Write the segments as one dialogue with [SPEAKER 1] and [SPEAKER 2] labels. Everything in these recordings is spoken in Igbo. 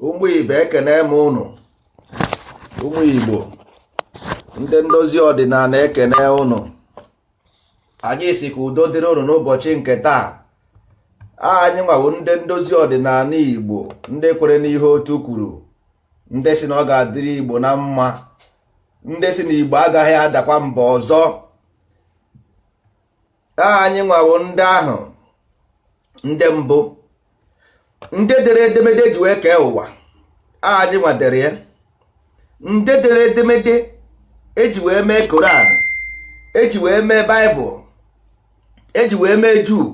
[SPEAKER 1] ụmụ ibe ekene m ụnụ ụmụ igbo ndị ndozi ọdịnanị ekene ụnụ anyị sị ka udo dịrị ụnụ n'ụbọchị nke taa anyị nwa wụ ndị ndozi ọdịnanị igbo ndị kwere n'ihe otu kwuru ndị sị na ọ ga-adịrị igbo na mma ndị sị na igbo agaghị adakwa mgbe ọzọ anyị nwa wụ ndị ahụ ndị mbụ ndị dere edemede eji wee kee ụwa anyị nwa dere ya ndị dere edemede eji wee mee koran eji wee mee baịbụl eji wee mee juu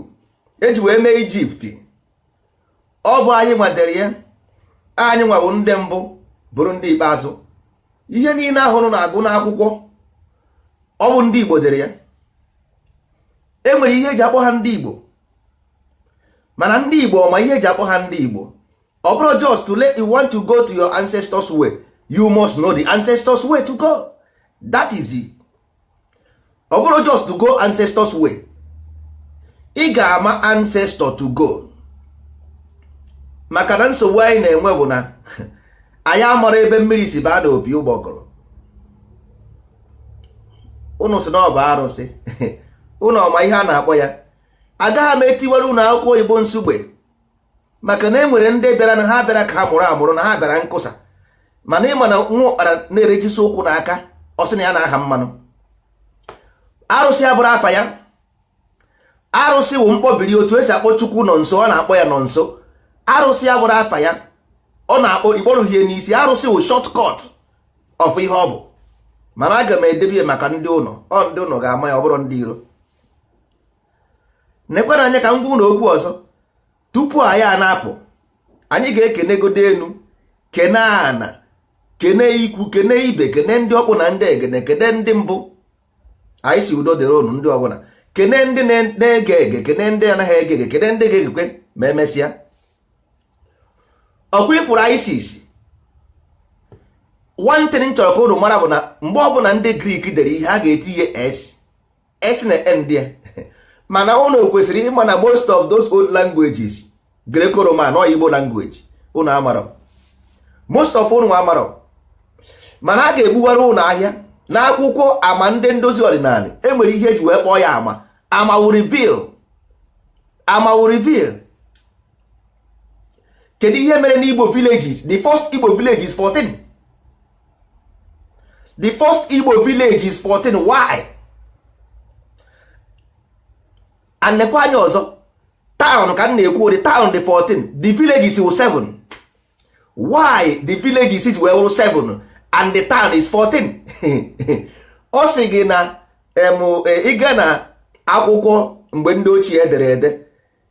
[SPEAKER 1] eji wee mee ijipt ọ bụ anyị nwa dere ya anyị nwa wụ ndị mbụ bụrụ ndị ikpeazụ ihe niile ahụrụ na-agụ n'akwụkwọ ọ bụ ndị Igbo dere ya e nwere ihe eji akpọ ha ndị Igbo mana ndị Igbo ọ ma ihe eji akpọ ha ndị Igbo ọ bụrọ just to let you want to go to your ancestors way you must know the ancestors way to go that is it. ọ bụrọ just to go ancestors way ị ga-ama ancestor to go maka na nsogbu anyị na-enwe bụ na anyị amarọ ebe mmiri si baa n'opi ụgbọgụrụ ụnụ sị na ọ bụ arụsị ụnụ ọ ma ihe a na-akpọ ya agaghị m etiwere ụnụ akụ oyibo nsugbe maka na e nwere ndị bịara na ha bịara ka ha mụrụ amụrụ na ha bịara nkụsa mana ịma na nwa ụkpara na-erejisi ụkwụ na aka ọ sị na ya na-aha mmanụ arụsị abụrọ afa ya arụsị wụ mkpọbiri otu esi akpọ chukwunọnso ọ na-akpọ ya nọnso arụsị abụrọ afa ya ọ na-akpọ ikpọrụhie n'isi arụsị wụ shortcut of ihe ọ bụ mana aga m edebe ya maka ndị ụnọ ọ ndị ụnọ ga-ama ya ọ bụrọ ndị iro nekwanụ anya ka m gwa ụnụ okwu ọzọ tupu anyị a na-apụ anyị ga-ekenegodo enu kene ana kene ikwu kene ibe kene ndị ọkpụ na ndị egede kene ndị mbụ anyị sị udo dịrị ụnụ ndị ọbụla kene ndị na-ege ege kene ndị anaghị ege ege kene ndị ga-egekwe ma emesịa ọkwa ị fụrụ isis one thing m chọrọ ka ụnụ mara bụ na mgbe ọbụla ndị grik dere ihe ha ga-etinye s s na end ya mana ụnụ kwesịrị ịma na most of those old languages greco-roman ọ igbo language ụnụ amarọ most of ụnụ amarọ mana a ga-egbuwara ụnụ ihe a n'akwụkwọ ama ndị ndozi ọdịnanị enwere ihe eji wee kpọọ ya ama ama wụ reveal ama wụ reveal kedu ihe mere n'igbo villages the first igbo village is 14 the first igbo village is 14 why and nekwa anya ọzọ town ka m na-ekwu the town dị 14 the villages wụ 7 why the villages is wee wụrụ 7 and the town is 14 ọ sị gị na ị ga na akwụkwọ mgbe ndị ochie dere ede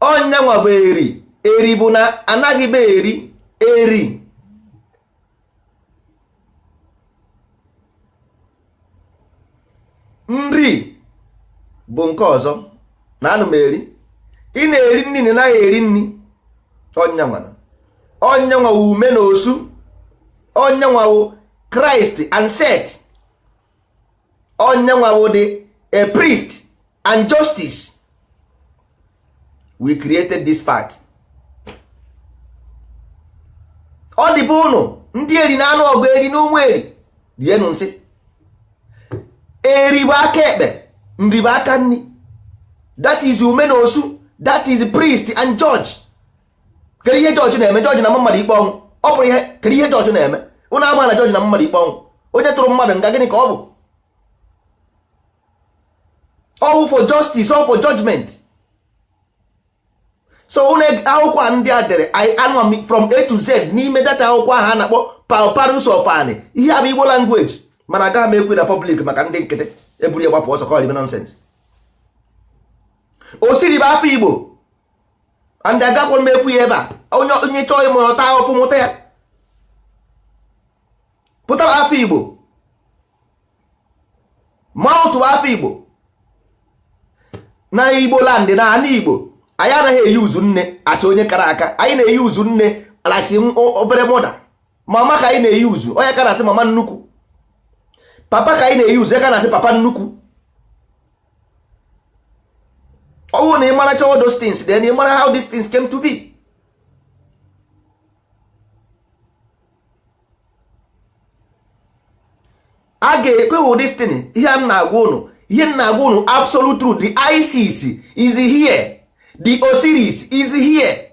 [SPEAKER 1] ọ ya nwa bụ eri eri bụ na anaghị m eri eri nri bụ nke ọzọ na anụ m eri ị na-eri nri na anaghị eri nri ọ ya nwa ọ ya nwa wụ ume na osu ọ ya nwa wụ christ and set ọ ya nwa wụ the priest and justice we created this fact ọ dịbe ụnụ ndị eri na-anụ ọgụ eri na ụmụ eri rienụ nsị eri bụ aka ekpe nri bụ aka nri that is ume na osu that is priest and judge kedu ihe judge na-eme judge na-ama mmadụ ikpe ọnwụ ọ bụrụ ihe kedu ihe judge na-eme ụnụ ama na judge na-ama mmadụ ikpe ọnwụ onye tụrụ mmadụ nga gịnị ka ọ bụ ọ bụ for justice ọ for judgment so ụnụ akwụkwọ a ndị a dere anụwa m from a to z n'ime that akwụkwọ ahụ a na-akpọ papyrus of ani ihe a bụ igbo language mana agaghị m ekwu na public maka ndị nkịtị eburu ya gbapụ ọsọ ka ọ dị nonsense osiri bụ afa igbo and agakwarọ m ekwu ya ebe a onye onye chọọ ịmụ ọ taa ahụfụ mụta ya ptah wụ afa igbo maat wụ afa igbo na igbo land na ana igbo anyị anaghị euse nne as onye kara aka anyị na-euse nne as obere mother mama ka anyị na-euse ọ ya ka a na-asị mama nnukwu papa ka anyị na-euse ya ka a na-asị papa nnukwu ọ bụrụ na ị maracha all those things then ị mara how these things came to be a ga-ekwuwe this thing ihe m na-agwa unu ihe m na-agwa unu absolute truth the ISIS is here the Osiris is here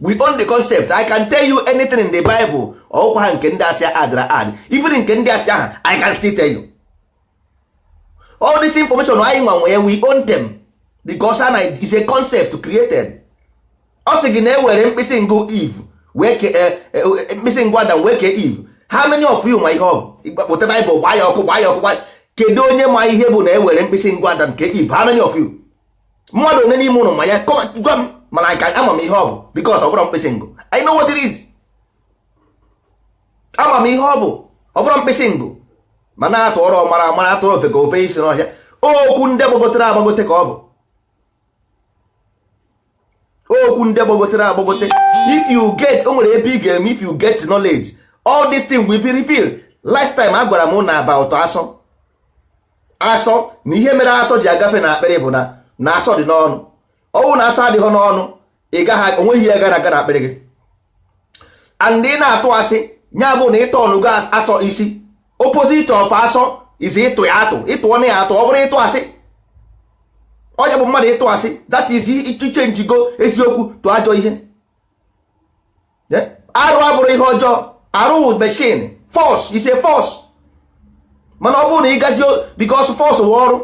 [SPEAKER 1] we own the concept i can tell you anything in the bible ọkwa ha nke ndị asị adra ad even nke ndị asia i can still tell you all this information anyị nwa nwe ya we own them because it's a concept created ọ sị gị na e were mkpịsị ngụ eve wee ke eh, eh, eh, mkpịsị ngụ adam wee kee eve how many of you ma ihe ọ bụ ịgbakpọta bible gbaa ya ọkụ gbaa ya ọkụ gbaa ya- kedu onye ma ihe bụ na e were mkpịsị ngụ adam kee eve how many of you mmadụ one n'ime unu ma ya gwa m mana ama m ihe ọ bụ because ọ bụrụ mkpịsị ngụ I know what it is ama m ihe ọ bụ ọ bụrụ mkpịsị ngụ mana atụọrọ ọmara ọ mara atụọrọ ofeke o fee isi n'ọhịa okwu ndị gbagotere agbagote ka ọ bụ okwu ndị gbagotere agbagote if you get o nwere ebe ị ga-eme if you get knowledge all these things will be revealed last time agwara m na about asọ asọ na ihe mere asọ ji agafe na akpịrị bụ na na asọ dị n'ọnụ ọ wụ na asọ adịghị n'ọnụ ị gaghị o nweghị ihe gara aga na akpịrị gị and ị na-atụ asị ya bụ na ịtọ ọnụgo asọ isi opposite of asọ is ịtụ ya atụ ịtụ ọnụ ya atụ ọ bụrụ ịtụ asị ọ ya bụ mmadụ ịtụ asị that is ị changego eziokwu to ajọ ihe arụ abụrụ ihe ọjọọ arụ wụ machine force is a force mana ọ bụrụ na ị gazi because force wụ ọrụ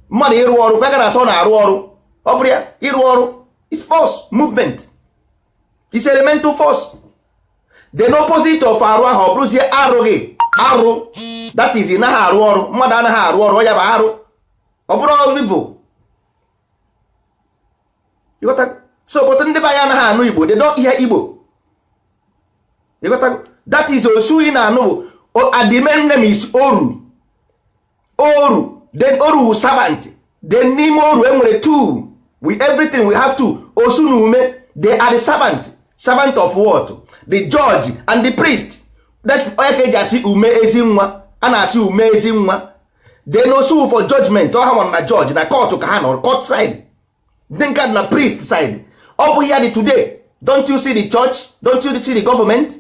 [SPEAKER 1] mmadụ ịrụ ọrụ kwega na asọ na-arụ ọrụ ọ bụrụ ya ịrụ ọrụ is force movement is elemental force the opposite of arụ ahụ ọ bụrụzie arụghị arụ that is ị naghị arụ ọrụ mmadụ anaghị arụ ọrụ ọ ya bụ arụ ọ bụrụ evil so but ndị be anyị anaghị anụ igbo they don't hear igbo that is osu ị na-anụ bụ the main name is oru oru then oru wu servant then n'ime oru enwere two with everything we have two osu na ume they are the servant servant of what the judge and the priest that's ọ ya ka eji asị ume ezi nwa a na-asị ume ezi nwa then osu for judgment ọ ha nọ na judge na court ka ha nọ court side then nke a na priest side ọ bụ ya dị today don't you see the church don't you see the government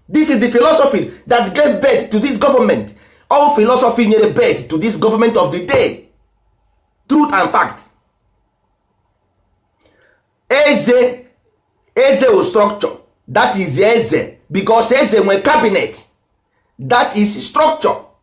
[SPEAKER 1] this is the philosophy that gave birth to this government ọ philosophy nyere birth to this government of the day truth and fact eze eze wụ structure that is eze because eze nwe cabinet that is structure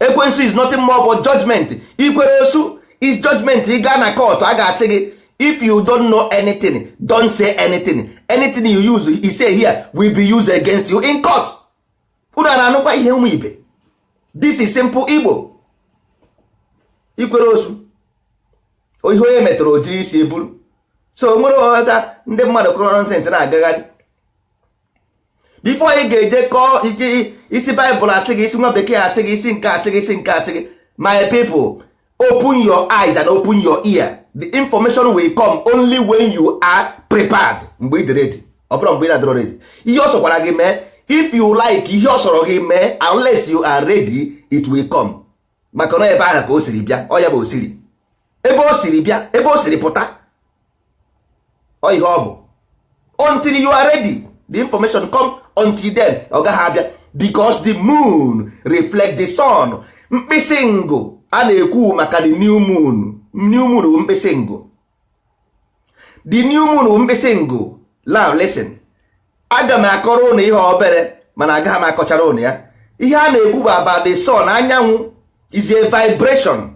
[SPEAKER 1] ekwensu is nothing more but judgment ikwere osu is judgment ị gaa na court a ga-asị gị if you don't know anything don't say anything anything you use you say here will be used against you in court unu a na-anụkwa ihe ụmụ ibe this is simple igbo ikwere osu ọ ihe onye metara o jiri isi buru so were ghọta ndị mmadụ kuru nonsense na-agagharị before ị ga-eje kọọ ị sị bible asị gị ị sị nwa bekee asị gị ị sị nke a sị gị ị sị nke a sị gị my people open your eyes and open your ear the information will come only when you are prepared mgbe ị dị ready ọ bụrụ mgbe ị na-adịrọ ready ihe ọ sọkwara gị mee if you like ihe ọ sọrọ gị mee unless you are ready it will come maka na ebe ahụ ka o siri bịa ọ ya bụ o siri ebe o siri bịa ebe o siri pụta ọ ihe ọ bụ until you are ready the information come until then ọ gaghị abịa because the moon reflect the sun mkpịsị ngụ a na-ekwu maka the new moon new moon bụ mkpịsị ngụ the new moon bụ mkpịsị ngụ now listen aga m akọrọ ụnụ ihe obere mana agaghị m akọchara ụnụ ya ihe a na-ekwu bụ about the sun anyanwụ is a vibration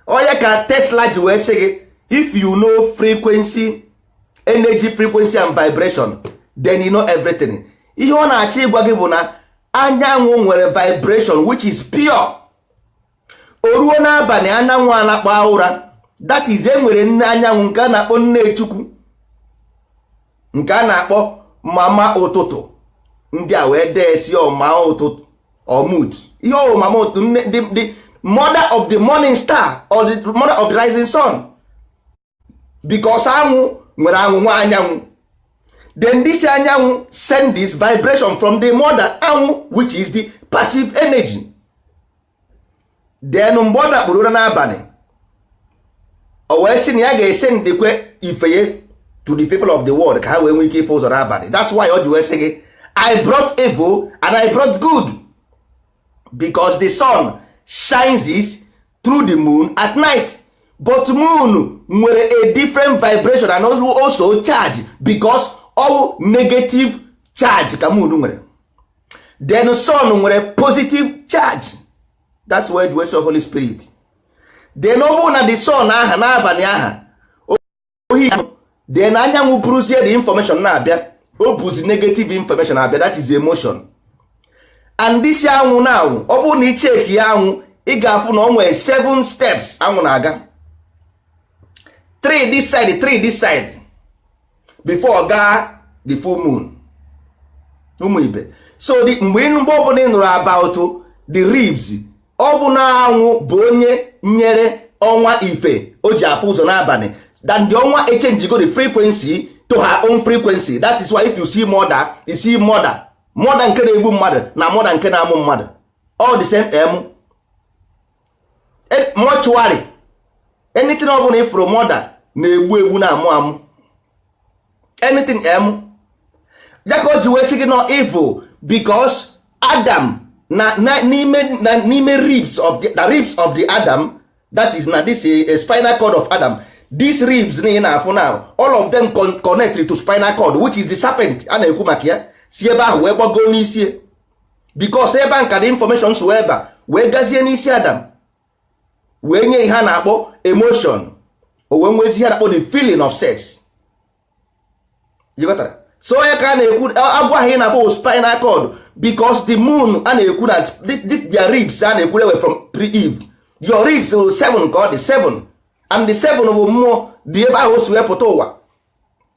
[SPEAKER 1] ọ ya ka tesla ji wee sị gị if you know frequency energy frequency and vibration then you know everything ihe ọ na-achọ ịgwa gị bụ na anyanwụ nwere vibration which is pure o ruo n'abalị anyanwụ anakpuo ụra that is e nwere nne anyanwụ nke a na-akpọ nne chukwu nke a na-akpọ mama ụtụtụ ndị a wee dee sị mama ụtụtụ ọmụd ihe mama ụtụtụ the mother of the morning star or the mother of the rising sun because anwụ nwere anwụ nwa anyanwụ then this anyanwụ send this vibration from the mother anwụ which is the passive energy then mgbe ọ nakpuru ụra n'abalị o wee sị na ya ga-esendikwe ife ye to the people of the world ka ha wee nwee ike ịfụ ụzọ n'abalị that's why o ji wee sị gị i brought evil and i brought good because the sun shines it through the moon at night but moon nwere a different vibration and also charge because ọ bụ negative charge ka moon nwere then sun nwere positive charge that's why the holy spirit then ọ bụrụ na the sun aha n'abalị aha ohi then anyanwụ buruzie the information na-abịa o buzi negative information abịa that is emotion and this anwụ na anwụ ọ bụrụ na ị chekie anwụ ị ga-afụ na o nwere seven steps anwụ na-aga three this side three this side before ọ gaa the full moon ụmụ ibe so the- mgbe ị- mgbe ọbụla ị nụrụ about the ribs ọ bụ na anwụ bụ onye nyere ọnwa ife o ji afụ ụzọ n'abalị then the ọnwa echenjigo the frequency to her own frequency that is why if you see mother you see murder murder nke na-egbu mmadụ na mother nke na-amụ mmadụ all the same m mortuary anything ọ bụla ị fụrụ mother na-egbu egbu na-amụ amụ anything em ya ka o ji wee sị gị no evil because adam na n'ime na n'ime ribs of the, the ribs of the adam that is na this a spinal cord of adam these ribs na ị na-afụ now all of them con connect to spinal cord which is the serpent a na-ekwu maka ya si ebe ahụ wee gbagoo n'isi because ebe a nka the information si ebe a wee gazie n'isi adam wee nye ihe a na-akpọ emotion o wee nwezi ihe a na-akpọ the feeling of sex ị ghọtara so ọ ya ka a na-ekwu agwọ ahụ ị na-afụ spinal cord because the moon a na-ekwu na this, this their ribs a na-ekwu e wee form pre-eve your ribs bụ seven ka ọ dị seven and the seven bụ mmụọ dị ebe ahụ o si wee pụta ụwa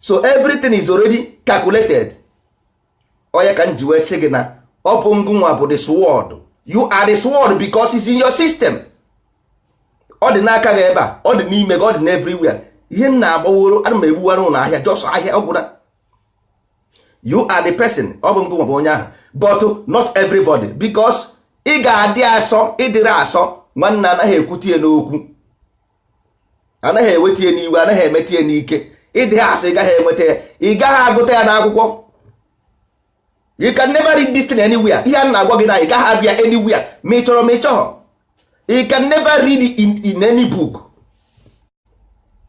[SPEAKER 1] so everything is already calculated ọ ya ka m ji wee sị gị na ọ bụ ngụnwa bụ the sword you are the sword because it's in your system ọ dị n'aka gị ebe a ọ dị n'ime gị ọ dị n'everywhere ihe m na-agbaworo ana m egbuwara unu ahịa just ahịa ọ gwụna you are the person ọ bụ ngụnwa bụ onye ahụ but not everybody because ị ga-adị asọ ị dịrị asọ nwanne anaghị ekwute ya n'okwu anaghị eweta ya n'iwe anaghị emeta ya n'ike ị dịha asọ ị gaghị enweta ya ị gaghị agụta ya n'akwụkwọ you can never read this thing anywhere ihe a m na-agwa gị na ị gaghị afụ ya anywhere ma ị chọrọ ma ị chọghọ you can never read it in, in any book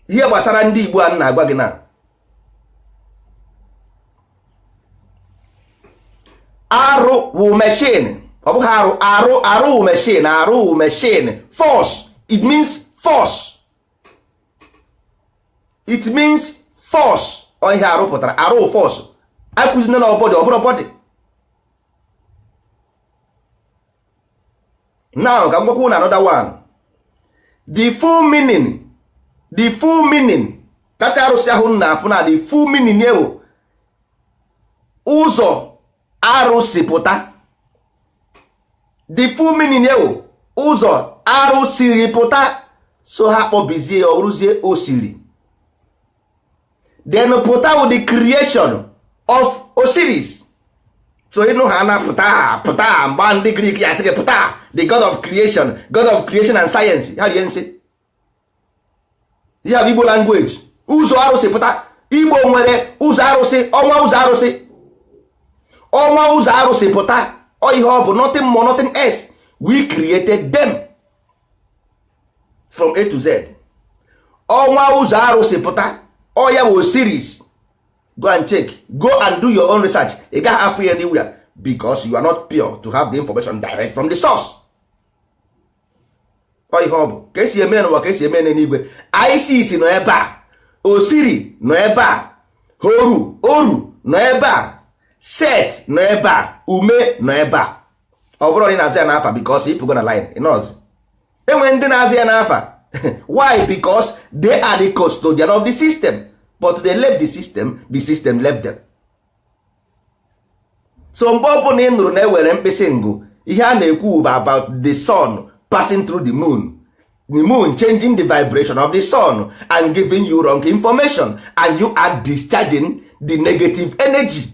[SPEAKER 1] ihe gbasara ndị Igbo a m na-agwa gị na arụ wụ machine ọ bụghị arụ arụ arụ wụ machine arụ wụ machine force it means force it means force ọ ihe arụ pụtara arụ wụ force akụzina na ọ body ọ bụrụ body now ka m gwakwu unu another one the full meaning the full meaning that arụsị ahụ m na-afụ na the full meaning ya wụ ụzọ arụ si pụta the full meaning ya wụ ụzọ arụ siri pụta so ha kpọbizie ya ọ bụrụzie osiri then pụta wụ the creation of Osiris so ị nụ ha na pụta pụta mgbe ndị Grik ya sị gị Ptah the god of creation god of creation and science ha rie nsị ya bụ Igbo language ụzọ arụ si pụta Igbo nwere ụzọ arụsị ọnwa ụzọ arụsị ọnwa ụzọ arụ si pụta ọ ihe ọ bụ nothing more nothing else we created them from a to z ọnwa ụzọ arụsị pụta ọ ya wụ Osiris go and check go and do your own research ị gaghị afụ ya anywhere because you are not pure to have the information direct from the source ọ ihe ọ bụ ka esi eme n'ụwa ka esi eme n'eluigwe Isis nọ ebe a osiri nọ ebe a horu oru nọ ebe a set nọ ebe a ume nọ ebe a ọ bụrụ na ị na-azụ ya n'afa because ịpụgo na line ịnọzi enwere ndị na-azụ ya n'afa why because they are the custodian of the system but they left the system the system left them so mgbe ọ bụla ị nụrụ na ewere mkpịsị ngụ ihe a na-ekwu bụ about the sun passing through the moon the moon changing the vibration of the sun and giving you wrong information and you are discharging the negative energy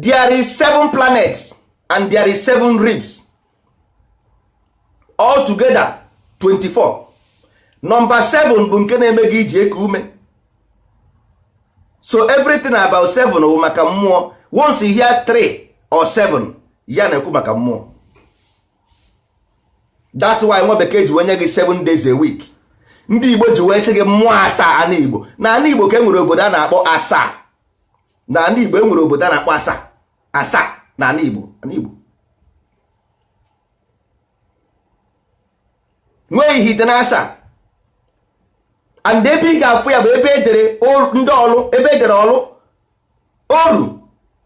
[SPEAKER 1] there is seven planets and there is seven ribs all together 24 nọmba 7 bụ nke na-eme gị iji eku ume so everything about 7 wụ maka mmụọ once you hear 3 or 7 a na-ekwu maka mmụọ that's why nwa bekee ji wenye gị 7 days a week ndị igbo ji wee sị gị mmụọ asaa ana igbo na ana igbo ka e nwere obodo a na-akpọ asaa na ana igbo enwere obodo a na-akpọ asa asa na ana igbo ana igbo nwee ihite na asa and ebe ị ga-afụ ya bụ ebe edere ndị ọlụ ebe edere ọlụ oru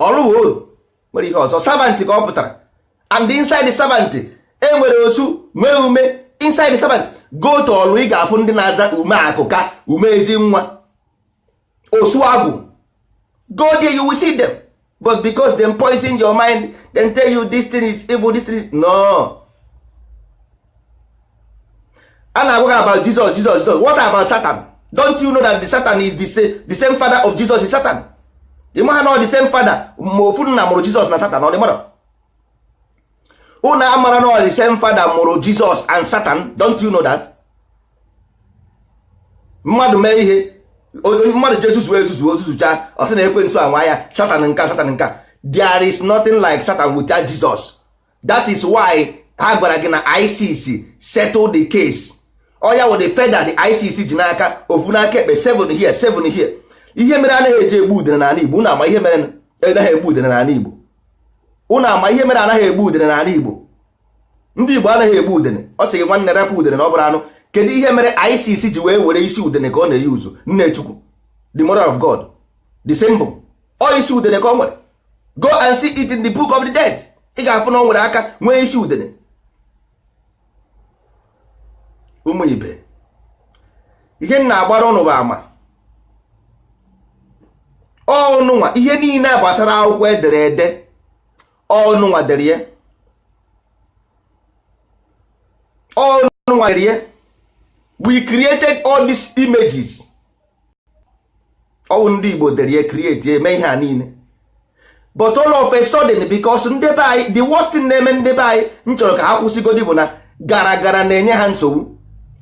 [SPEAKER 1] ọlụ wụ oru nwere ihe ọzọ servant ka ọ pụtara and inside servant enwere osu nwee ume inside servant go to ọlụ ị ga-afụ ndị na-aza ume akụka ume ezi nwa osuagwu go there you will see them but because dem poison your mind dem tell you this thing is evil this thing no a na-agwa ha about Jesus Jesus Jesus what about Satan don't you know that the Satan is the same, the same father of Jesus is Satan ị maha na the same father ma ofu nna mụrụ Jesus na Satan ọ dị mara unu amara na the same father mụrụ Jesus and Satan don't you know that mmadụ mee ihe mmadụ ji ezuzu ezuzu o zuzucha ọ sị na ekwensu anwa ya satan nka satan nka there is nothing like satan without jesus that is why ha gwara gị na isis settle the case ọ ya wụ the feather the isis ji n'aka ofu n'aka ekpe 7 here 7 here ihe mere anaghị eji egbu udene n'ala igbo unu ama ihe mere anaghị egbu udene n'ala igbo unu ama ihe mere anaghị egbu udene n'ala igbo ndị Igbo anaghị egbu udene ọ sị gị nwanne rapụ udene na ọ bụrọ anụ kedu ihe mere Isis ji wee were isi udene ka ọ na-eyi uzu nne Chukwu the mother of God the symbol ọ isi udene ka ọ nwere go and see it in the book of the dead ị ga-afụ na ọ nwere aka nwee isi udene ụmụ ibe ihe m na-agbara ụnụ bụ ama ọnụnwa ihe niile gbasara akwụkwọ edere ede ọ ụnụ nwa dere ya ọ ụnụ nwa dere ya we created all these images ọ wụ ndị Igbo dere ya create ya mee ihe a niile but all of a sudden because ndị be anyị the worst thing na-eme ndị be anyị m chọrọ ka ha kwụsịgodi bụ na gara gara na-enye ha nsogbu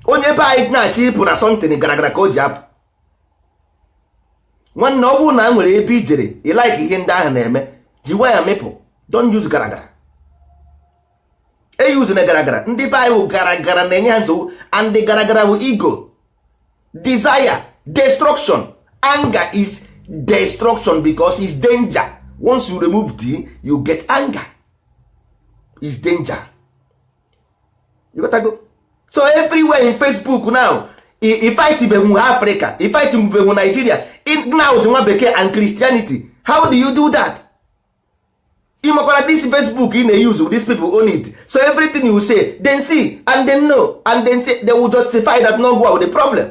[SPEAKER 1] onye be anyị na-achọ ịpụ na something gara gara ka o ji apụ nwanne ọ bụrụ na e nwere ebe i jere ị like ihe ndị ahụ na-eme ji nwayọ mịpụ don't use gara gara eyuzuna gara gara ndị be anyị gara gara na-enye ha nsogbu and the gara gara bụ ego desire destruction anger is destruction because is danger once you remove D you get anger is danger so everywhere in Facebook now ifightibegwu Africa ifightibegwu Nigeria ignaus nwa bekee and Christianity how do you do that? ịmakwara this Facebook ị na-eyuzu these people own it so everything you say then see and then know and then say they will justify that no go with the problem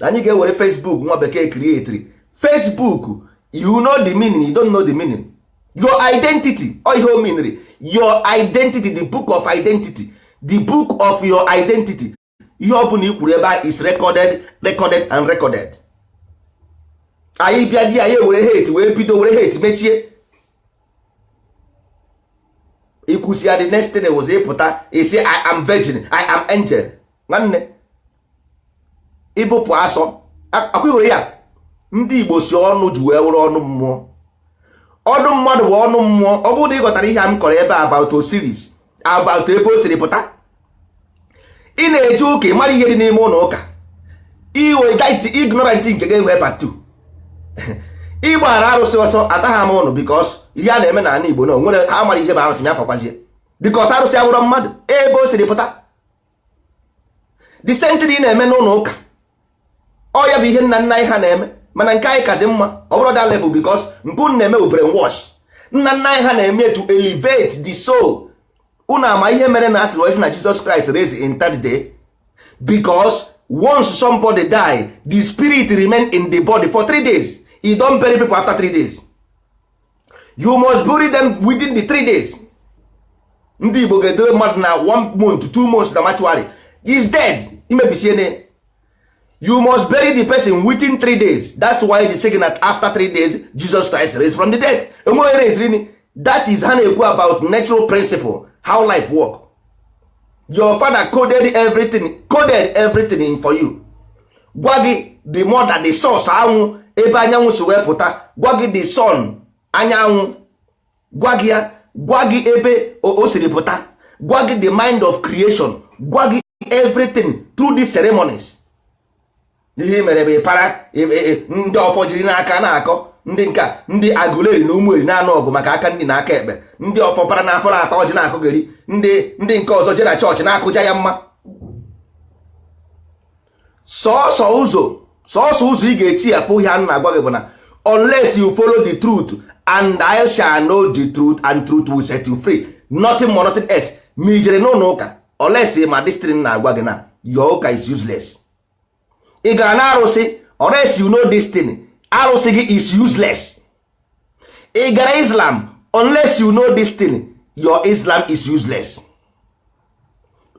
[SPEAKER 1] anyị ga-ewere Facebook nwa bekee creatri Facebook you know the meaning you don't know the meaning your identity ọ ihe ọ meanrị your identity the book of identity the book of your identity ihe ọ bụla i kwuru ebe a is recorded recorded and recorded anyị bịadị anyị ewere hate wee bido were hate mechie i kwusịa the next thing wụzi ị pụta ị sị I am virgin I am angel nwanne ị bụpụ asọ akwụghị ya ndị Igbo sị ọnụ ji wee wụrụ ọnụ mmụọ ọnụ mmadụ bụ ọnụ mmụọ ọ bụrụ na ị ghọtara ihe a m kọrọ ebe a about Osiris about ebe o siri pụta ị na-eje ụka ị mara ihe dị n'ime ụlọ ụka iwe gaisi ignorant nke ga-enwe part 2 ị gbara arụsị ọsọ ataghị m ụnụ because ihe a na-eme n'ala Igbo na o nwere ha mara ihe bụ arụsị ya fọkwazie because arụsị awụrọ mmadụ ebe o siri pụta the same thing ị na-eme n'ụlọ ụka ọ ya bụ ihe nna nna anyị ha na-eme mana nke anyị kazi mma ọ bụrọ that level because nke unu na-eme bụ brainwash nna nna anyị ha na-eme to elevate the soul unu ama ihe mere na a sịrị wee sị na Jesus Christ raise in third day because once somebody die the spirit remain in the body for three days you don't bury people after three days you must bury them within the three days ndị igbo ga-edowe mmadụ na one month two months na mortuary is dead imebisie ne you must bury the person within three days that's why the second that after three days jesus christ raised from the dead enweghị raised that is ha na-ekwu about natural principle how life work your father coded everything in for you gwa gị the mother the source anwụ ebe anyanwụ si wee pụta gwa gị the sun anyanwụ gwa gị ya gwa gị ebe o siri pụta gwa gị the mind of creation gwa gị everything through these ceremonies ihe i mere bụ ị para ndị ọfọ jiri n'aka na-akọ ndị nka ndị Agụleri na Ụmụeri na-anụ ọgụ maka aka nni na aka ekpe ndị ọfọ para na ọfọ na-ata ọjị na-akọgheri ndị nke ọzọ je na church na-akụ jaa ya mma sọọsọ ụzọ ị ga-esi afụ ihe a na-agwa gị bụ na unless you follow the truth and ye shall know the truth and truth will set you free nothing more nothing else ma i jere n'ụlọ ụka unless ịma this thing m na-agwa gị na your ụka is useless ị gara na arụsị unless you know this thing arụsị gị is useless ị gara islam unless you know this thing your islam is useless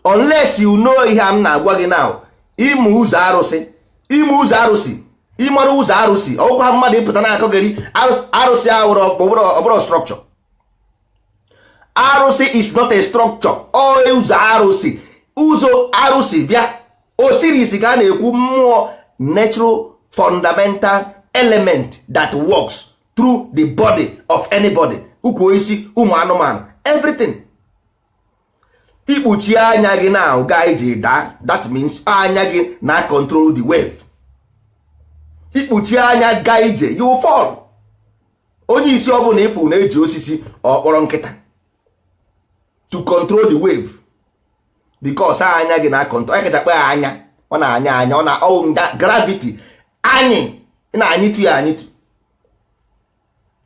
[SPEAKER 1] unless you know ihe m na-agwa gị now ịma ụzọ arụsị ịma ụzọ arụsị ịmara ụzọ arụsị ọ wụkwaghị mmadụ ịpụta na-akọgheri arụsị ahụ ọ bụrụ structure arụsị is not a structure ọ ụzọ arụsị ụzọ arụsị bịa osiris ka a na-ekwu mmụọ natural fundamental element that works through the body of anybody ukwu osisi ụmụ anụmanụ everything ikpuchie anya gị na-aga ije ị daa that means anya gị na-acontrol the wave ikpuchie anya gaa ije you fall onye isi ọ bụla ị fụ na-eji osisi ọ kpọrọ nkịta to control the wave because anya gị na-acontrol onye kịta kpe anya ọ na-anya anya ọ na ọwụ nga gravity anyị na-anyịtu ya anyịtu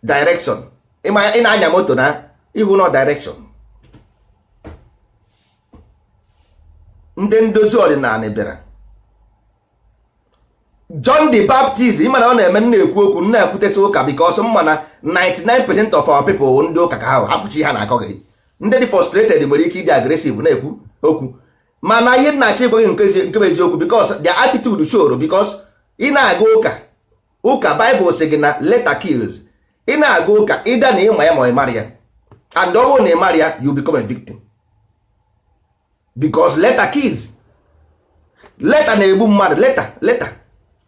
[SPEAKER 1] direction ị ma ị na-anya moto na ihu na direction ndị ndozi ọdịnanị bịara John the Baptist ịma na ọ na-eme m na-ekwu okwu m na-ekwutesi ụka because m ma na 99 percent of our people wụ ndị ụka ka ha hapụ chi ha na-akọgheri ndị dị frustrated nwere ike ịdị aggressive na-ekwu okwu mana ihe m na-achọ ịgwa gị nke ezi- nke bụ eziokwu because their attitude showro because ị na-aga ụka ụka Bible sị gị na letter kills ị na-aga ụka ịda na ịma ya ma ị maghị ya and ọ bụrụ na ị maghị ya you become a victim because letter kills letter na-egbu mmadụ letter letter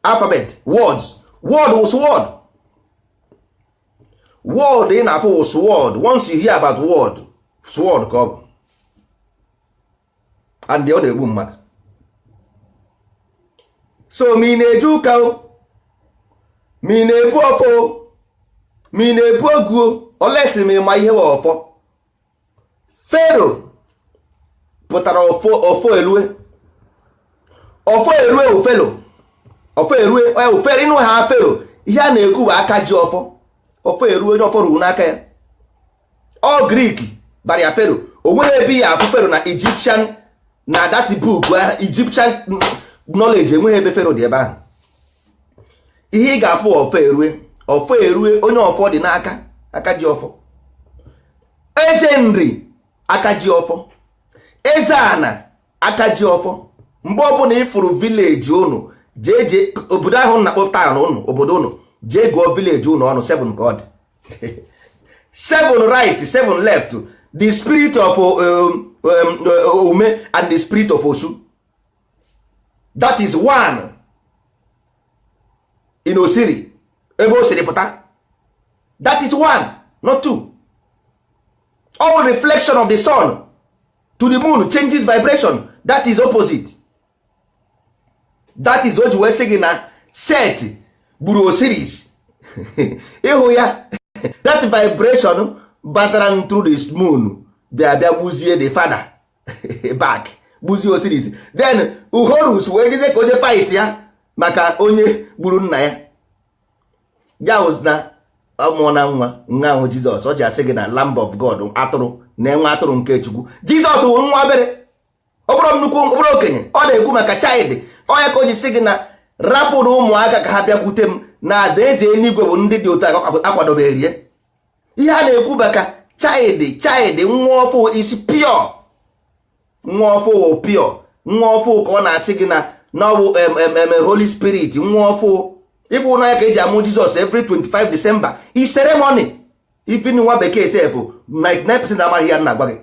[SPEAKER 1] alphabet words word wụ sword word ị na-afụ wụ sword once you hear about word sword ka ọ bụ and ọ na-egbu mmadụ so ma ị na-eje ụka o ma ị na-ebu ọfọ o ma ị na-ebu ogu o unless ma ịma ihe wụ ọfọ pharaoh pụtara ọfọ erue ọfọ erue bụ pharaoh ọfọ erue onye bụ pharaoh ịnụ ha pharaoh ihe a na-ekwu bụ aka ji ọfọ ọfọ erue onye ọfọ ruru n'aka ya ọ greek bara ya pharaoh o nweghị ebe ị ya-afụ pharaoh na egyptian na that book egyptian knowledge enweghị ebe pharaoh dị ebe ahụ ihe ị ga-afụ ọfọ erue ọfọ erue onye ọfọ dị n'aka aka ji ọfọ eze nri aka ji ọfọ eze ana aka ji ọfọ mgbe ọbụla ị fụrụ village ụnụ jee jee obodo ahụ na-akpọ town ụnụ obodo ụnụ jee gụọ village ụnụ ọnụ 7 ka ọ dị 7 right 7 left the spirit of um, um, ume and the spirit of osu that is one in osiri ebe o siri pụta that is one not two all reflection of the sun to the moon changes vibration that is opposite that is o ji wee sị gị na set gburu osiris ịhụ ya that vibration batara through the moon bịa bịa gbuzie the father back gbuzie osiris then horus wee jezie ka onye fight ya maka onye gburu nna ya jaus na ọmụọ na nwa nwa ahụ jizọs ọ ji asị gị na lamb of god atụrụ na nwa atụrụ nke chukwu jizọs wụ nwa obere ọ bụrụ nnukwu ọ bụrụ okenye ọ na-ekwu maka child ọ ya ka o ji sị gị na rapụrụ ụmụaka ka ha bịakwute m na alaeze eluigwe bụ ndị dị otu a akwadobeere ya ihe a na-ekwu maka child child nwa ọfụụ is pure nwa ọfụụ pure nwa ọfụụ ka ọ na-asị gị na na ọ bụ em- em- em- holy spirit nwa ọfụụ ị fụ na ya ka eji amụ jizọs every 25 december is ceremony even nwa bekee sef 99% amaghị ihe a m na-agwa gị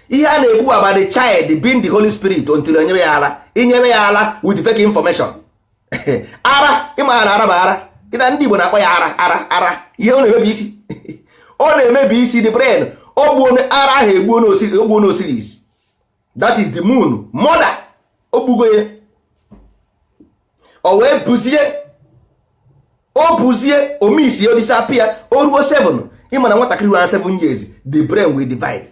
[SPEAKER 1] ihe a na-ekwu about the child being the holy spirit until enyewe ya ala i nyewe ya ala with fake information ara ị ma na ara bụ ara na ndị Igbo na-akpọ ya ara ara ara ihe ọ na-emebi isi ọ na-emebi isi the brain o gbuo ara ahụ egbuo n'osiris that is the moon mother o gbugo ya o wee buzie o buzie omisi o disappear o ruo 7 ị ma na nwatakịrị ruo 7 years the brain will divide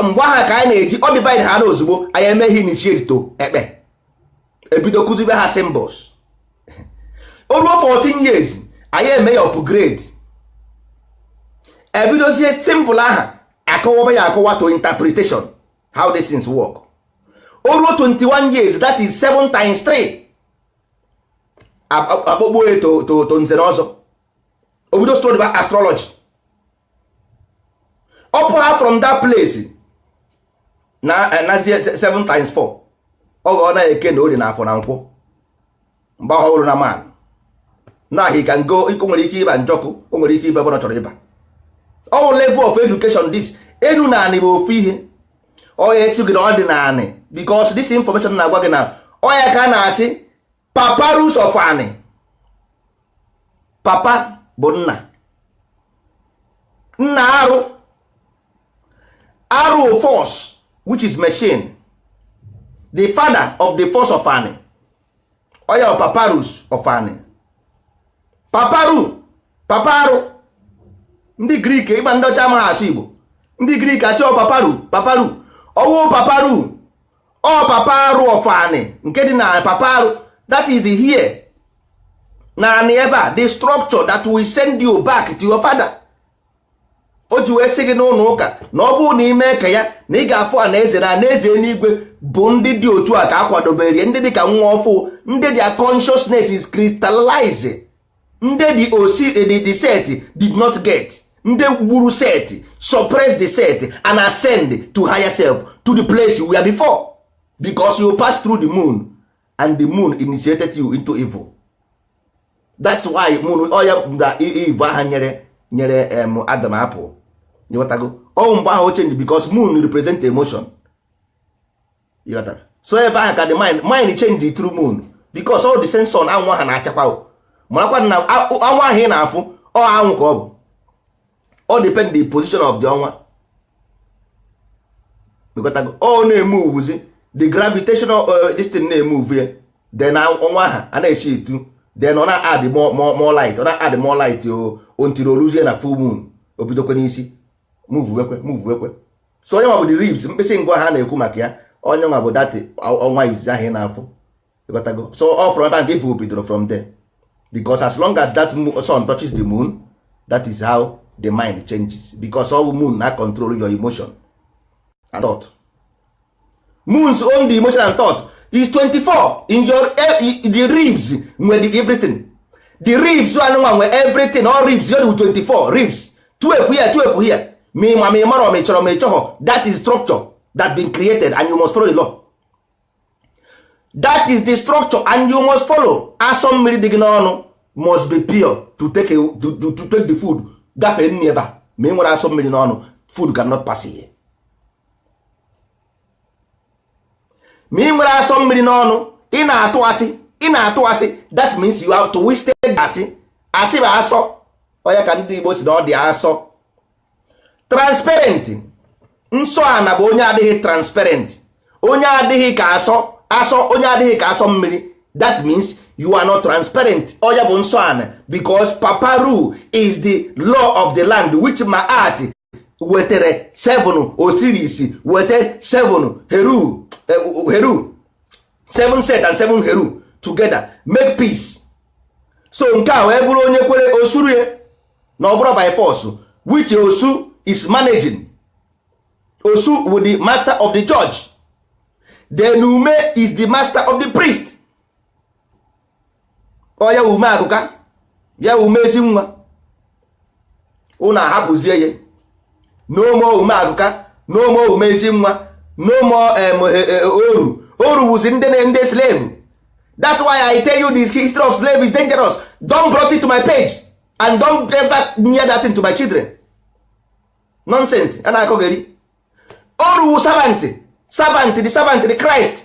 [SPEAKER 1] mgbe ahụ ka anyị na-eji ọ divide ha na ozugbo anyị eme ha initiate to ekpe ebido kụzibe ha symbols o ruo 14 years anyị eme ya upgrade ebidozie symbol aha akọwaba ya akọwa to interpretation how these things work o ruo 21 years that is 7 times 3 akpọgbuo ya to to to nze na ọzọ o bido study ba astrology ọ pụ ha from that place na nazie 7 times 4 ọ ghọọ na eke na orie na afọ na nkwọ mgbe ọ hụrụ na man na he can go iko nwere ike ịba njọkụ o nwere ike ịba ebe ọ chọrọ ịba all level of education this enu na anị bụ ofu ihe ọ ya a sị gị na ọdịnaanị because this information na-agwa gị na ọ ya ka a na-asị papyrus of Ani papa bụ nna nna arụ arụ force which is machine the father of the force of anị ọ ya papyrus of Ani paparu paparu ndị Greek ị ma ndị ọcha amaghị asụ igbo ndị Greek asị ọ paparu paparu ọ wụ paparu ọ paparu of ani nke dị na paparu that is here na anị ebe a the structure that will send you back to your father o ji wee sị gị n'ụlọ ụka na ọ bụrụ na i mee ka ya na ị ga-afụ anaeze na anaeze enuigwe bụ ndị dị otu a ka a kwadobere ndị dị ka nwa ọfụụ ndị their consciousness is crystallized ndị dị osi the set did not get ndị gburu set suppress the set and ascend to higher self to the place you were before because you pass through the moon and the moon initiated you into evil that's why moon ọ ya na Eve aha nyere nyere em Adam apple ị ghọtago ọ wụ mgbe ahụ ọ change because moon represent emotion ị ghọtara so ebe ahụ ka the mind mind change through moon because all the same sun anwụ ahụ na-achakwa o. marakwa na ọnwa ahụ ị na-afụ ọ anwụ ka ọ bụ all depend the position of the ọnwa ọ na-emovezi the gravitational uh, this thing na-emove ya then ọnwa aha a na-eshift then ọ na-add more light ọ na-add more light until o luzie na full moon o bidokwe n'isi movewekwe movewekwe so ọ ya nwa bụ the ribs mkpịsị ngụ aha a na-ekwu maka ya ọ ya nwa bụ that ọnwa izizi ahụ ị na-afụ ịghọtago so ọ from ebe a evil bidoro from there because as long as that sun touches the moon that is how the mind changes because all moon na control your emotion and thought moons own the emotion and thought is 24 in your eh, the ribs nwere everything the ribs anụnwa nwe everything all ribs yod 24 ribs 12 here 12 here ma ịma ma ị mara ma ị chọrọ ma ị chọghọ that is structure that been created and you must follow the law that is the structure and you must follow asọ mmiri dị gị n'ọnụ must be pure to take, a, to, to, to take the food gafee n'ebe a ma i nwerọ asọ mmiri n'ọnụ food cannot pass here ma i nwerọ asọ mmiri n'ọnụ ị na-atụ asị ị na-atụ asị that means you have twisted asị asị bụ asọ ọ ya ka ndị Igbo sị na ọ dị asọ transparent nsọ ana bụ onye adịghị transparent onye adịghị ka asọ asọ onye adịghị ka asọ mmiri that means you are not transparent ọ ya bụ nsọ ana because paparu is the law of the land which Maat wetere seven Osiris wete seven heru eh, heru seven set and seven heru together make peace so nke a wee bụrụ onye kwere osuru ya na ọ bụrọ by force which osu is managing osu wụ the master of the judge then ume is the master of the priest ọ ya ume akụka ya ume ezi nwa ụnụ ahapụzie ya no more ume akụka no more ume ezi nwa no more e, e, oru oru wuzi ndị ndị slave that's why i tell you this history of slave is dangerous don't brought it to my page and don't ever near that thing to my children nonsense a na-akọgheri oru wu servant servant the servant the christ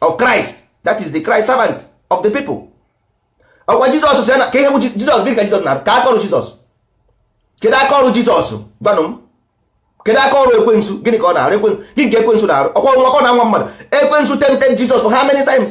[SPEAKER 1] of Christ that is the Christ servant of the people ọkwa Jizọs si ka ihe bụ Jizọs gịnị ka Jizọs na ka aka ọrụ Jizọs kedu aka ọrụ Jizọs gwanụ m kedu aka ọrụ ekwensu gịnị ka ọ na-arụ ekwensu gịnị ka ekwensu na-arụ ọkwa nwa ọ na-anwa mmadụ ekwensu tempted Jizọs for how many times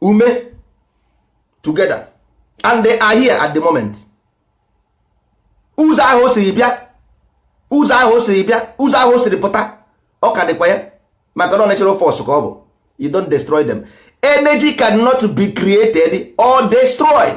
[SPEAKER 1] ume together and they are here at the moment ụzọ ahụ o siri bịa ụzọ ahụ o siri bịa ụzọ ahụ o siri pụta ọ ka dịkwa ya maka na natural force ka ọ bụ you don't destroy them energy cannot be created or destroyed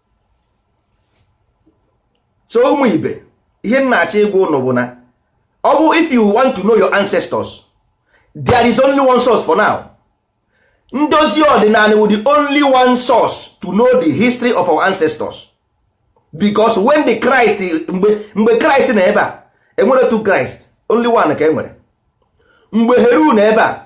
[SPEAKER 1] so ụmụ ibe ihe m na-achọ ịgwa ụnụ bụ na ọ bụ if you want to know your ancestors there is only one source for now ndozi ọdịnala wụ the only one source to know the history of our ancestors because when the Christ mgbe mgbe Christ na ebe a enwere two Christ only one ka enwere mgbe Heru na ebe a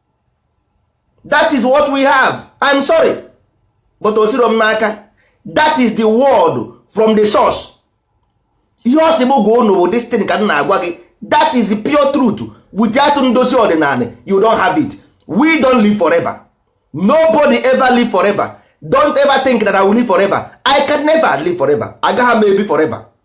[SPEAKER 1] that is what we have I'm sorry but o siro m n'aka that is the word from the source ihe ọ sị m gwa unu bụ this thing ka m na-agwa gị that is the pure truth without ndozi ọdịnala you don't have it we don't live forever nobody ever live forever don't ever think that I will live forever I can never live forever agaghị m ebi forever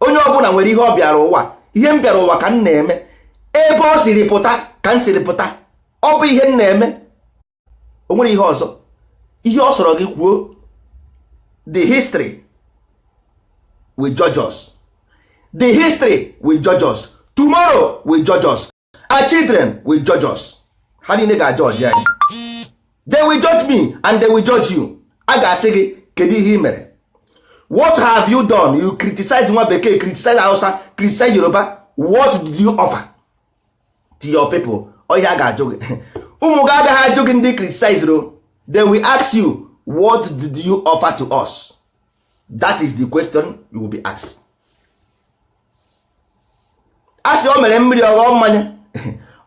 [SPEAKER 1] onye ọbụla nwere ihe ọ bịara ụwa ihe m bịara ụwa ka m na-eme ebe ọ siri pụta ka m siri pụta ọ bụ ihe m na-eme o nwere ihe ọzọ ihe ọ sọrọ gị kwuo the history will judge us the history will judge us tomorrow will judge us our children will judge us ha niile ga-ajudge anyị they will judge me and they will judge you a ga-asị gị kedu ihe ị mere what have you done you criticize nwa bekee criticize hausa criticize yoruba what did you offer to your people ọ ihe a ga-ajụ gị ụmụ gị agaghị ajụ gị ndị ị criticize ro they will ask you what did you offer to us that is the question you will be asked a sị o mere mmiri ọ ghọọ mmanya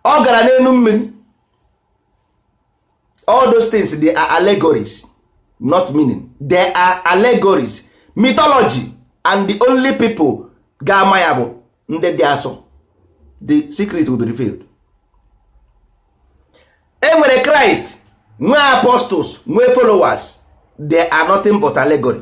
[SPEAKER 1] ọ gara n'elu mmiri all those things they are allegories not meaning they are allegories mythology and the only people ga-ama ya bụ ndị dị asọ the secret will be revealed e nwere Christ nwee apostles nwee followers they are nothing but allegory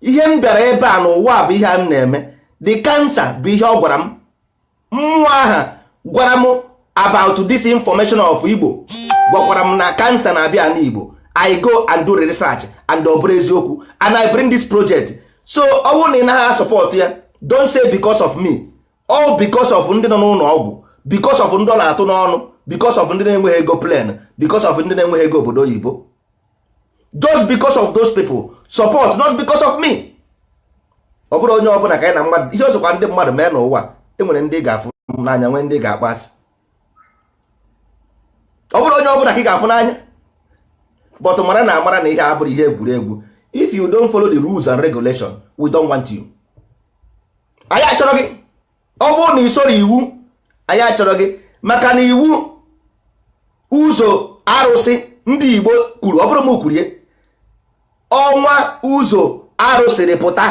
[SPEAKER 1] ihe m bịara ebe a n'ụwa bụ ihe a m na-eme the cancer bụ ihe ọ gwara m mmụọ aha gwara m about this information of Igbo gwakwara m na cancer na-abịa n'Igbo I go and do research and ọ bụrụ eziokwu and I bring this project so ọ bụrụ na ị na-asupport ya don't say because of me all because of ndị nọ n'ụlọ ọgwụ because of ndị ọ na-atụ n'ọnụ because of ndị na-enweghị ego plane because of ndị na-enweghị ego obodo oyibo just because of those people support not because of me ọ bụrọ onye ọbụla ka anyị na mmadụ ihe ọ sọkwa ndị mmadụ mee n'ụwa enwere ndị ga-afụ n'anya nwee ndị ga-akpọ asị ọ bụrọ onye ọbụla ka ị ga-afụ n'anya but mara na amara na ihe a abụrọ ihe egwuregwu if you don't follow the rules and regulation we don't want you anyị achọrọ gị ọ bụrụ na i soro iwu anyị achọrọ gị maka na iwu ụzọ arụsị ndị Igbo kwuru ọ bụrọ m kwuru ya ọnwa ụzọ arụ siri pụta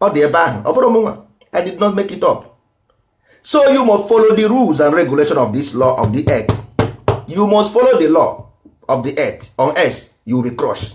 [SPEAKER 1] ọ dị ebe ahụ ọ bụrọ mụnwa I did not make it up so you must follow the rules and regulation of this law of the earth you must follow the law of the earth or else you will be crushed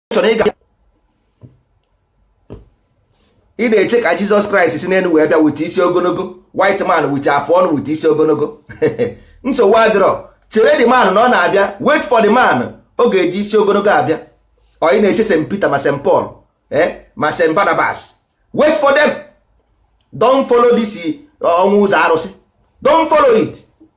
[SPEAKER 1] chọrọ ịga ị na-eche ka Jesus Christ si n'elu wee bịa with isi ogologo white man with afọ ọnụ with isi ogologo nsogbu adịrọ chere the man na ọ na-abịa wait for the man ọ ga-eji isi ogologo abịa or ị na-eche St Peter ma St Paul eh, ma St Barnabas wait for them don't follow this eh, ọnwa ụzọ arụsị don't follow it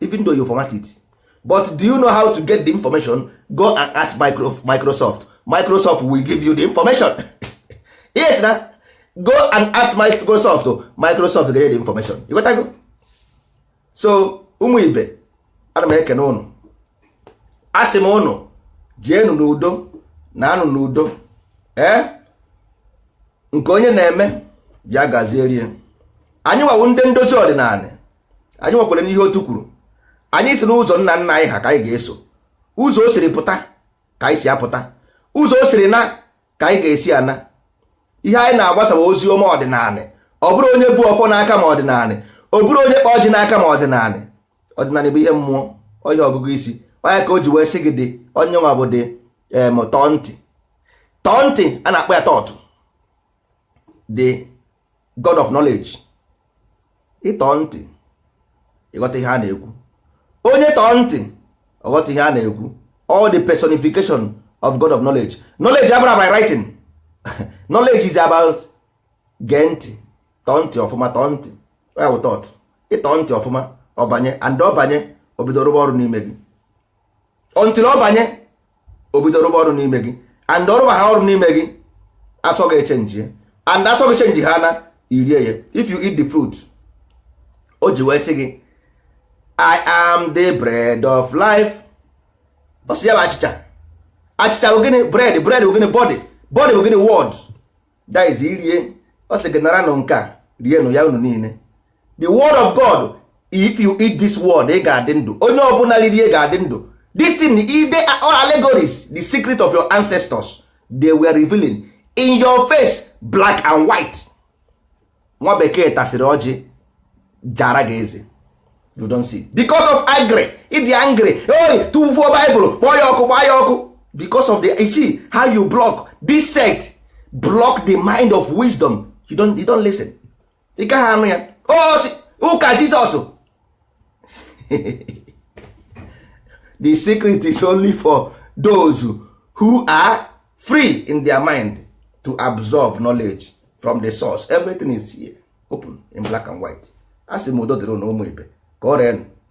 [SPEAKER 1] even though you format it but do you know how to get the information go and ask microsoft microsoft will give you the information yes na go and ask microsoft microsoft ga-enye the information you got go so ụmụ ibe ana m ekene ụnụ asị m ụnụ jeenụ n'udo naanụ n'udo ee nke onye na-eme ya gaziere ya anyịnwa wụ ndị ndozi ọdịnala anyịnwa ekwerọ n'ihe otu kwuru anyị sị na ụzọ nna nna anyị ha ka anyị ga-eso ụzọ o siri pụta ka anyị si apụta ụzọ o siri na ka anyị ga-esi ana ihe anyị na-agbasa bụ ozi ọma ọdịnala ọ bụrọ onye bu ọfọ n'aka ma ọdịnala ọ bụrọ onye kpa ọjị n'aka ma ọdịnala ọdịnala bụ ihe mmụọ ihe ọgụgụ isi ọ nya ka o ji wee sị gị the onye nwa bụ the em tọọ ntị tọọ ntị a na-akpọ ya Thoth the god of knowledge ịtọ ntị ịghọta ihe a na-ekwu onye tọọ ntị ọ ghọta ihe a na-ekwu all the personification of god of knowledge knowledge abụrọ by writing knowledge is about gee ntị tọọ ntị ọfụma tọọ ntị ya wụ thoth ị tọọ ntị ọfụma ọ banye and ọ banye o bido rụba ọrụ n'ime gị until ọ banye o bido rụba ọrụ n'ime gị and ọ rụba ha ọrụ n'ime gị asọ gị echenjie and asọ gị chenji ha na i rie ya if you eat the fruit o ji wee sị gị i am the bread of life ọ sị ya bụ achịcha achịcha bụ gịnị bread bread bụ gịnị body body bụ gịnị word that is irie ọ sị gị naranụ nke a rienụ ya unu niile the word of god if you eat this word ị ga-adị ndụ onye ọbụla ririe ga-adị ndụ this thing they are all allegories the secret of your ancestors they were revealing in your face black and white nwa bekee tasịrị ọjị jara gị eze you don't see because of angry ị dị angry o ị tụfuo baịbụl kpọọ ya ọkụ gbaa ya ọkụ because of the you see how you block this sect block the mind of wisdom you don't, you don't listen ị gaghị anụ ya ọ sị oh, ụka jizọs the secret is only for those who are free in their mind to absorb knowledge from the source everything is here open in black and white asị m udo dịrị nụ ụmụ ibe ka ọ reenụ